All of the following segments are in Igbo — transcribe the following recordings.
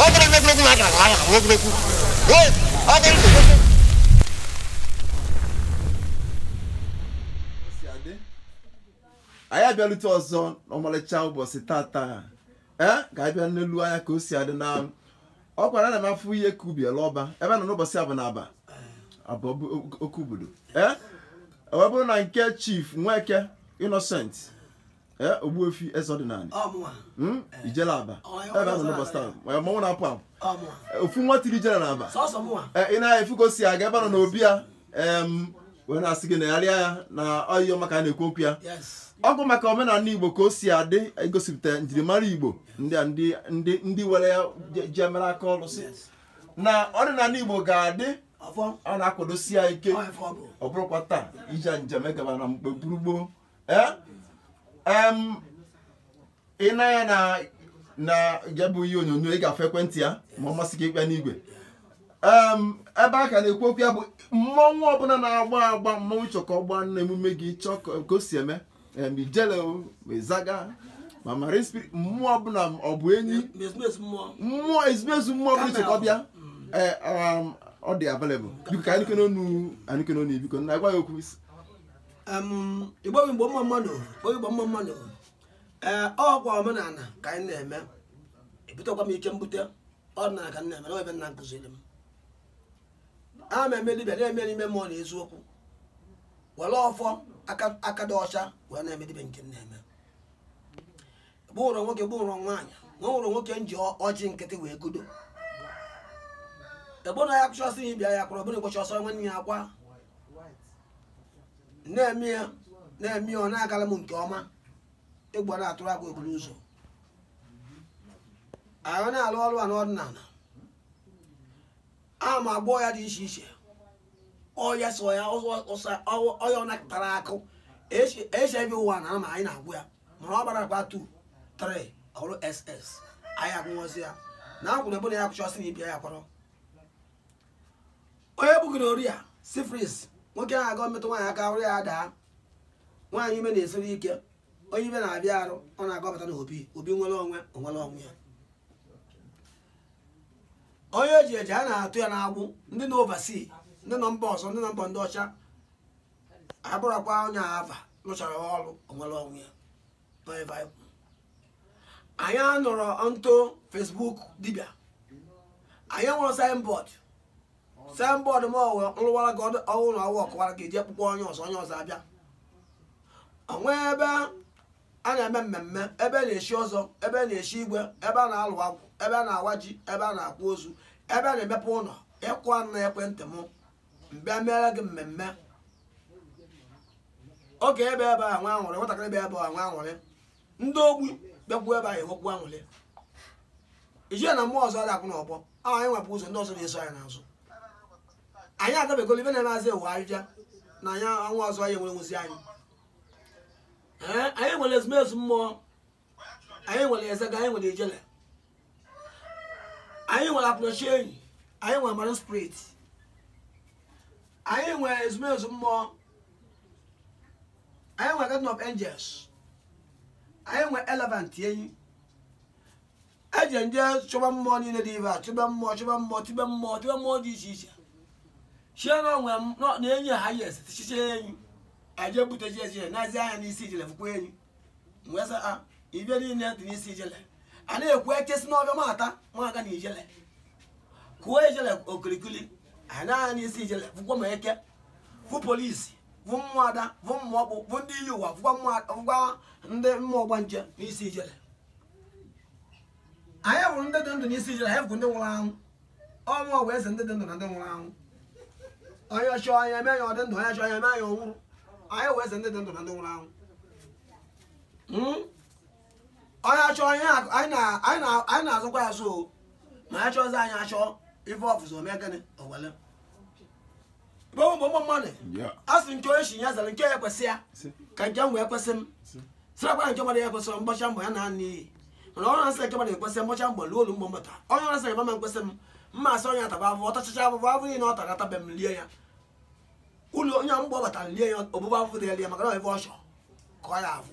ọ bụrụ na egwuregwu na agara agha na egwuregwu Ee, ọ bụrụ na egwuregwu si adị anyị abịalute ọzọ n'ọmalịcha ụbọchị tata ee ka anyị bịa n'elu anya ka o si adị na ọ gwara na m afụ ihe ka ubi ele ọba ebe a nọ n'ụbọchị abụ na aba abụ ọ bụ ok- oke obodo ee ọ bụrụ na nke chief nweke innocent Eh, Ogbuefi Ezeọdịnanị hmm? ijele Abba ebe a nọ n'ụbọsị taa mmanwụ na-apụ apụ eh, ofu nwa tiri ijele na Abba eh, ị na-afụ ka o si aga ebe a nọ n'obi ya wee na-asị gị negharịa ya na onyonyo maka a na-ekwu okwu ya ọ bụ maka omenala igbo ka o si adị egosipụta njirimara igbo ndị were ya jee mere aka ọlụ sị na ọdịnala igbo ga-adị ọ na-akwadosi ya ike ọ bụrụkwa taa ije njem egaba na mgbe gburugburu Eh? Em, ị nee anya na ya bụ ihe onyonyo ị ga-afụ ekwentị ya ma ọ masị gị ị kpọọ ya n'igwe Em, ebe a ka na-ekwu okwu ya bụ mmọnwụ ọbụla na-agba agba mmọnwụ chọkọ ọ gba na emume gị chọọ ka ka o si eme em, ijele o, ma ịzaga ma marine spirit mmụọ ọbụla ọ bụ enyi mmụọ ezumezu mmụọ ọbụla chọkọ bịa ee um, ọ dị available biko ka anyị nụkene onu anyị nụkene onu biko nna gwa anyị okwu igbo bụ igbo mma mma nụ igbo bụ igbo mma mma nụ ee ọkwa omenala ka anyị na-eme ebutekwa m ike mbute ọdịnala ka m na-eme n'ebe nna m kụziri m a na m eme dibịa na-eme n'ime mmụọ na eziokwu were ọfọ aka dị ọcha wee na-eme dibịa nke m na-eme gbụrụ nwoke gbụrụ nwaanyị na ọ nwụrụ nwoke m ji ọ- ọjị nkịtị wee kudo ebe na ya kụcha ọsọ ihe bịa ya kụrụ ọbụna ụbọchị ọsọ nwanne ya akwa na-eme ya na-eme ya ọ na-agala m nke ọma egwu a na-atụrụ agwụ eburu ụzọ anyị na-alụ ọrụ a n'ọdịnala a na m agwọ ọya dị iche iche ọya so ọya ọya ọ nakpụtara akụ hiv ụwa na ama anyị na-agwọ ya mana ọ gbara akpa 2 3 ọ bụrụ ss anyị agwọsị ya na akwụrụ ebe na ya kwụchọsị na ibi ya kwarọ onye bugoro ọrịa syphilis nwoke ahụ ga-emetụ nwaanyị aka arụ ya daa nwaanyị ime na-esiri ike onye ime na-abịa arụ ọ na-agọpụta na obi obi nwere onwe onwere onwe ya onye eji eji a na-atọ ya n'agbụ ndị nọ overseas ndị nọ mba ọzọ ndị nọ mba ndị ọcha abụrụkwa onye ava lụchara ọrụ o nwere onwe ya n'ebe anyị kwuru. anyị anọrọ ntụ Facebook dibịa anyị enwerọ signboard signboard m ọ wụ m rụwara gị ọdụ- ọrụ na ọwa ọkụwara gị ejee kpọkuo onye ọzọ onye ọzọ abịa onwe ebe a na-eme mmemme ebe a na-echi ọzọ ebe a na-echi igwe ebe a na-alụ agwụ ebe a na-awa ji ebe a na-akwa ozu ebe a na-emepe ụlọ ị kụọ na ekwentị m m bịa meere gị mmemme oge ebe ebe a nwa anwụrị nwatakịrị ebe ebe a nwa anwụrị ndị ogbi bịakwuo ebe a enwekwu anwụrị ijele na mmụọ ọzọ adakụ na ọgbọ a anyị nwepụ ụzọ ndị ọzọ na-eso anyị n'azụ anyị agabegolo ife na-eme azị ewu ahịhịa na anyị anwa ọzọ anyị enwere nwụzi anyị Ee, anyị nwere ezumezu mmụọ anyị nwere ịzaga anyị nwere ijele anyị nwere akwụnechenyi anyị nwere marine spirit anyị nwere ezumezu mmụọ anyị nwere garden of angels anyị nwere elephant enyi eje ndị chọba mmụọ niile dị ebe a chọba mmụọ chọba mmụọ tibe mmụọ tibe mmụọ dị iche iche chie na onwe m nọ- na enyi ha yes tichiche enyi aje buteji ijele nezie anya n'isi ijele fụkwa enyi mgbe sị a ife niile dị n'isi ijele a na-ekwu ekesi n'ọbịa mata nwaga na ijele kụọ ijele okirikiri a nee anya n'isi ijele fụkwa ma eke fụ polisi fụ mmụọ ada fụ mmụọ ọkpụ fụ ndị iyi ụwa fụkwa mmụọ- fụkwa ndị mmụọ ọgbanje n'isi ijele anyị hụrụ ndị dị ndụ n'isi ijele anyị hụkwa ndị nwụrụ anwụ ọ mmụọ wụ eze ndị dị ndụ na ndị nwụrụ anwụ onye chọọ anyị emee ya ọ dị ndụ onye chọọ anyị emee ya ọ nwụrụ anyị wụ eze ndị dị ndụ na ndị nwụrụ anwụ onye achọ anyị na-asọkwa ya asọ ma onye chọzi anyị achọ ife ọ fụzi o mee gịnị o wele gbogbo mmadụ asị nke onye shi ya zara nke ya kwesị ya ka nke m wee kwesị m sịrakwa nke mmadụ ya kwesị m m gbacha mbọ ya naa n'iyi mana ọrụ asị nke mmadụ ekwesị m gbacha mbọ lụọ ọlụ mgbọ mbata onye ọrụ asị nke m ama ekwesị m mma asị onye ataba afụ ọ tachacha afụfụ afụ niile ọ tara atabe m lie ya ụlọ onye mgbe ọ batara lie ya obụbụ afụfụ dị ya lie maka na ọ ife ọ chọ ka ọ ya afụ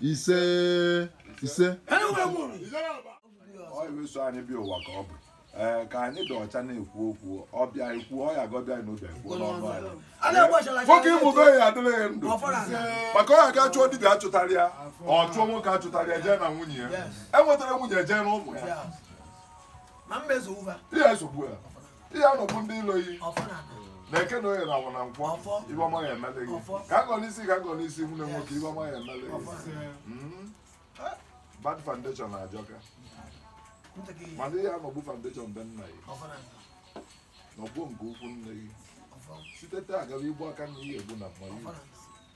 ise ise ọyịweso anyị bịa ụwa ka ọ bụ ee ka anyị dị ọcha na-ekwu okwu ọbịa ekwu ọya gọbịa na ụbịa ekwu n'ọnụ anyị nwoke ime be ya adịrị ya ndụ maka ọya ga chụọ dibịa achụtara ya ọ chụọ nwoke achụtara ya jee na nwunye ya enwetara nwunye jee n'ụmụ ya ihe esogbu ya ihe anọgbu ndị ilo yi ọfọ na ana na eke na oye na afọ na nkwọ Ọfọ. ife ọma ya emele gị Ọfọ. ka agọ n'isi ka agọ n'isi nwunye nwoke ife ọma ya emele ọfọ gị na Mm. bad foundation na-ajọka ntị gị mana ihe anọgbu foundation be nna gị ọfọ na ana nọgbuo nke ikwu nne gị ọfọ site taa agaba igbu aka na ihe egbu na mma ọfọ na ana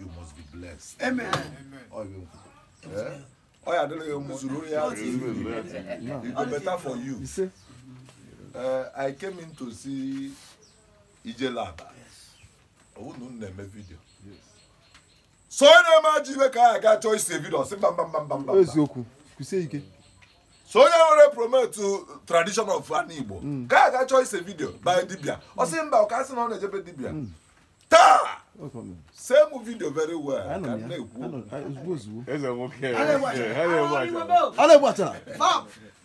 you must be blessed amen ọ bụ eh? ọ ya adịrị gị mma zuru ya it go better for you uh, i came in to see ijele aba ọ wụ na unu na-eme vidio so onye na-eme ajọ ife ka a ga-achọ ise vidio sị mba mba mba mba mba eziokwu kwusie ike so onye nwere promote tradition of ndị igbo ka a ga-achọ ise vidio by dibia ọ sị mba ọ ka a sị na ọ na-eje be dibia taa see m video very well ka na-ekwu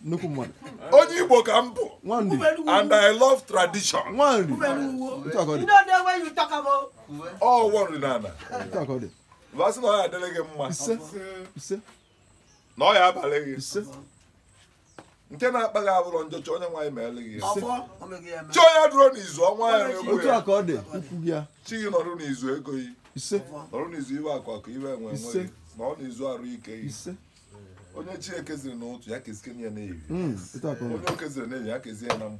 nnukwu mmadụ onye igbo ka m bụ and i love tradition ọ nri na a na m asị na ọ ya adịrị gị mma na ọ ya abalị gị nke na-akpa gị abụrụ njọ chọọ onye nwaanyị meere gị ya ọfọ o meghị ya eme chọọ ya dụrụ n'izu ọnwa ya egbu otu a ka ọ dị ikwu gị ya chi gị nọrụ n'izu ego gị ise nọrụ n'izu ife akụ akụ ife enwe enwe Ise. gị nọọ n'izu arụ ike gị ise onye chi keziri n'ụtụtụ ya kezikenye ya n'ehihie Mm, otu a ka ọ dị onye o keziri n'ehihie ya kezie ya na mgbe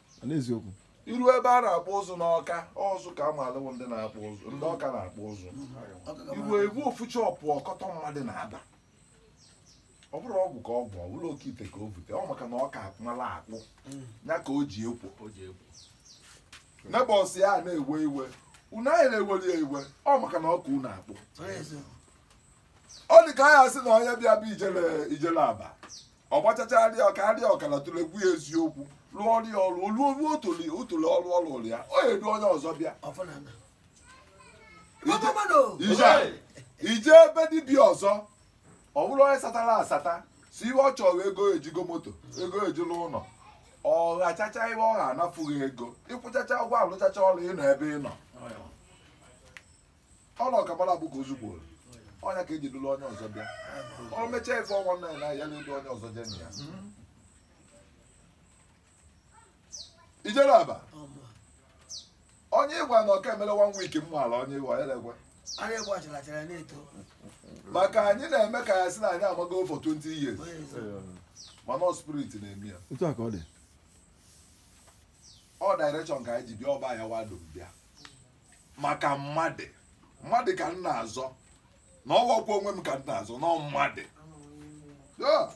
n'eziokwu i ruo ebe a na-akpụ ụzụ n'ọka ọ sọ ọka a maalụ wụ ndị na-akpụ ụzụ ndị ọka na-akpụ ụzụ i rue e nwee ofu shop ọkọtọ mmadụ na-aba ọ bụrụ ọgwụ ka ọ bụ ọ bụrụ oke ite ka o bute ọ maka na ọ ka mala akpụ ya ka o ji ekwo neighbours ya a na-ewe iwe unu a na-eweli ya iwe ọ maka na ọ ka unu akpụ ọ dị ka anyị asị na onye bịa be ijele ijele aba ọ gbachacha arị ọka arị ọkara tụlegwu ya eziokwu lụọ ọrụ ya ọrụ olu olu otole otole ọrụ ọrụ ụlụ ya ọ edu onye ọzọ bịa i jee be dibịa ọzọ ọ bụrụ onye satara asata sọ ife ọ chọrọ ego e ji ego moto ego e ji alụ ụnọ ọ ghachacha ife ọ gha nafụ gị ego ị kwụchacha ụgwọ a lụchacha ọrụ ị nọ ebe ị nọ ọ na ọ ka mara bụ ka ozu gboro ọnya ka e ji duru onye ọzọ bịa ọ mechaa ife ọnwa nna ya na ya edu onye ọzọ jee na ya ijele aba onye ị gwa na m ka emere one week m ala onye ị gwa ya na-egwe Ara egwu achịlachara na-eto. maka anyị na-eme ka a sị na anyị amago for 20 years Onye ọzọ. mana ọ spirit na-eme ya otu a ka ọ dị ọ direction ka anyị ji bịa ọba ya wa du m bịa maka mmadụ mmadụ ka m na-azọ na ọ wọkwa onwe m ka m na-azọ na ọ mmadụ Yeah.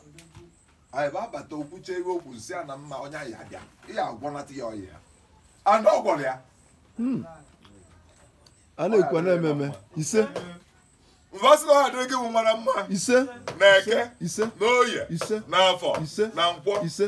anyị bụ abata o kwuche ife o kwu nsị a na mma onye anyị abịa ị ya agwọnata ya ọya ya ana ọ gwọrọ ya a na-ekwu na-eme eme ise m ga-asị na ọ ya adịrị gị bụ mara mma ise na eke ise na oye ise n'afọ ise na nkwọ ise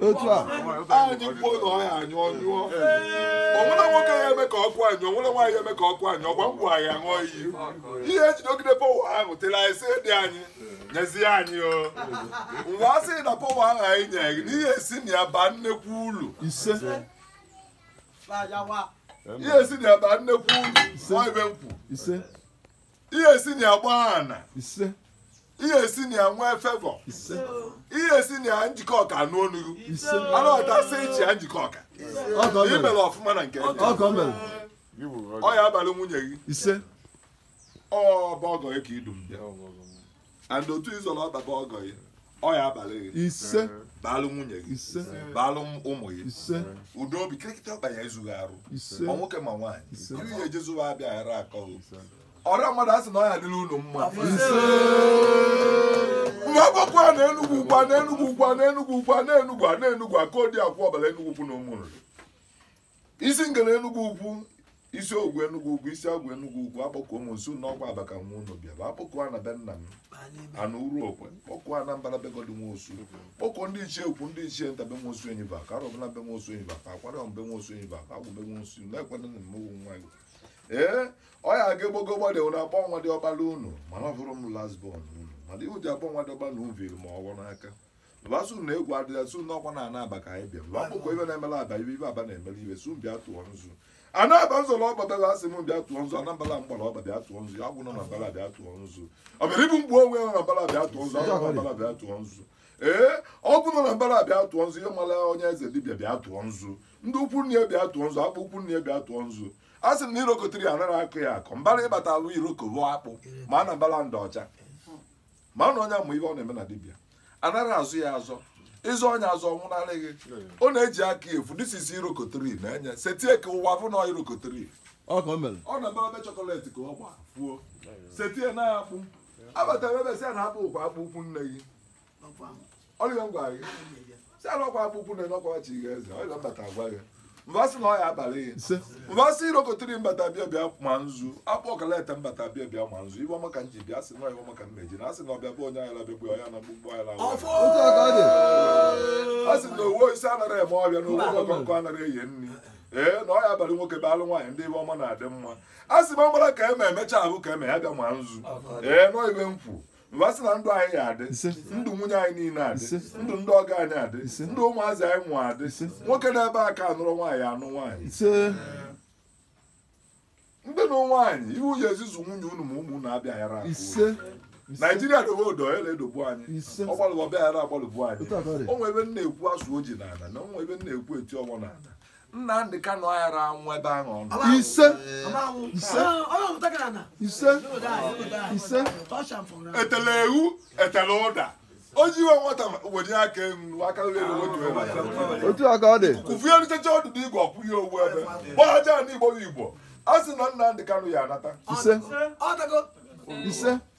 otu a anyị kwuo na ọ ya anyụ ọ nyụọ o nwerọ nwoke ya eme ka ọkụ a nyụọ o nwerọ nwaanyị eme ka ọkụ a nyụọ ọgwa ngwa anyị aṅụọ iyi ị ya ejidogide power ahụ tere anyị sị dị anyị nyezie anyị o m bịa sị na power ahụ anyị nyere gị na ị ya esi na ya baa nnekwu ulu ise ị ya esi na ya baa nnekwu ulu nwa ibe m kwu ise ị ya esi na ya gbaa ana ise ị ya esi na ya nwee favour ise ị ya esi na ya njikọka anụ onu gị ise anọghọta sị ị chịa njikọka i mere ọfụma na nke ndị ọgọ mere ọ ya abalị nwunye gị ise ọ bụ ọgọ gị ka i du m bịa and otu ịzọrọ ọtaba ọgọ gị ọ ya abalị gị ise baalụ nwunye gị ise baalụ ụmụ gị ise udo obi kirikịta ọkpa ya ezu gị arụ ise ọ nwoke ma nwaanyị Ise. ị ya ejezu ụwa abịa ghara akọ gị ọra mmadụ a sị na ọ ya dịrị unu mma m bịa akpọkuo ana enugwu ukwu ana enugwu ukwu ana enugwu ukwu ana enugwu ana enugwu aka odi akwụ ọkpala enugwu ukwu na ụmụnri isi ngere enugwu ukwu isi ogwu enugwu ukwu isi agwụ enugwu ukwu akpọkuo m unu sị n'ọkwa aba ka nwa unu bịa bụ akpọkuo ana be nna m ana uruokwe kpọkuo ana mbala be godi nwosu kpọkuo ndị ichie ukwu ndị ichie nta be nwosu enyi ba ka arọbụnagụ be nwosu enyi ba ka akwalị be nwosu enyi ba ka agwụ be nwosu na-ekwena na mmegbu nwa gị ee ọ ya aga egbogo gbade na akpọ nwa dị ọkpala unu mana ọ bụrụ m last born unu mana ive e ji akpọ nwa dị ọkpala unu viri ma ọvọ n'aka bịa sị na egwu adịrọ sị n'ọkwa na ana aba ka anyị bịa lụọ kpọkuo ibe na-emela aba ibe ibe aba na-emela ibe sị bịa tụọ nzu ana aba nzọ na ọba bịara asị m bịa tụọ nzu ana mbala mgbara ọba bịa tụọ nzu agwụ nọ na mbala bịa tụọ nzu ọ bịara ibu mgbe onwe ya nọ na mbala bịa tụọ nzu agwụ nọ na mbala bịa tụọ nzu ee ọgwụ nọ na mbala bịa tụọ nzu ihe mara onye eze dibịa bịa tụọ nzu ndị ukwu nne ya bịa tụọ nzu akpụ ukwu nne ya bịa tụọ nzu a sị m na iroko tree ya anaghị akụ ya akụ mbara ịbata alụ iroko bụ akpụ ma ana mbala ndị ọcha mana onye ma ive ọ na-eme na dibịa anaghị azọ ya azọ ị zọọ onye azọ nwụnarị gị ọ na-eji aka efu this is iroko tree na enye setie ka ụwa fụ na iroko tree ọ ka o mere ọ na-eme ebe chọkọletị ka ọ gba fuo setie na akpụ abatara ebe sị ya na akpụ ọkwa akpụ ukwu nne gị ọ ya m gwara gị sị na ọkwa akpụ ukwu nne n'ọkwa chi gị eze ọ ya m bata agwa gị m bịa sị na ọ ya abalị ya ise m bịa sị iroko tree mbata bịa bịa ma nzu akpụ ọkalete mbata bịa bịa ma nzu ive ọma ka m ji bịa sị na ive ọma ka m meji na asị na ọbịa be onye ayaghị abịagbu onye na mkpumkpu anyị lawa otu a ka ọ dị a sị na owu isi anaghị eme ọbịa na owu ọkụkọ nkụ anaghị eye nri ee na ọ ya abalị nwoke baalụ nwaanyị na ive ọma na-adị mma a sị ma ọ mara ka eme emecha ahụ ka eme ya bịa ma nzu ee nọ ibe m kwu mba sị na ndụ anyị ya adị Ise. ndụ nwunye anyị niile adị Ise. ndụ ndị ọgọ anyị adị Ise. ndụ ụmụazị anyị mụ adị Ise. nwoke n'ebe a ka anụrọ nwaanyị ya anụ nwaanyị ise ndị nụ nwaanyị ihe unu ya-eji azụ nwunye unu ma ụmụ unu abịa yara akọ unu. ise naijiria dobe odo ya na-edogbu anyị Ise. ọ gbalụbọ bịa yara agbalụbu anyị Otu a ka ọ dị. o nwe ebe m na-ekwu asụ oji n'ala na o nwe ebe m na-ekwu eti ọgbọ n'ala Nnamdị Kanu ayara anwụ ebe ahụ ọ nọ. ise ise ise ise etele ewu etele ụda o ji ihe nwata wenye aka elu aka elu elu otu ebe otu a ka ọ dị kụfie eritecha ọdụ na igwe ọkwụ ya owu ebe gbaaja na igbo bụ igbo a sị na Nnamdị Kanu ya anata ise ise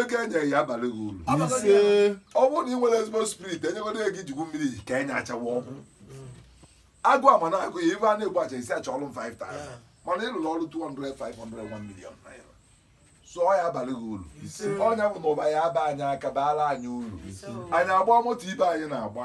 ego enye ya abalị gị uru ọ bụrụ na ị nwere ezigbo spirit e nyegodo ego i ji egwu mmiri ka enye achawa ọgwụ agụ ama na agụ ya ibe a na-egbu acha isi achọ ọrụ 5000 mana ị lụrụ ọrụ 200 500 1 million naira sọ ọ ya abalị gị uru ọ nya bụ na ụba ya aba anyị aka baara anyị uru anyị agba moto ibe anyị na-agba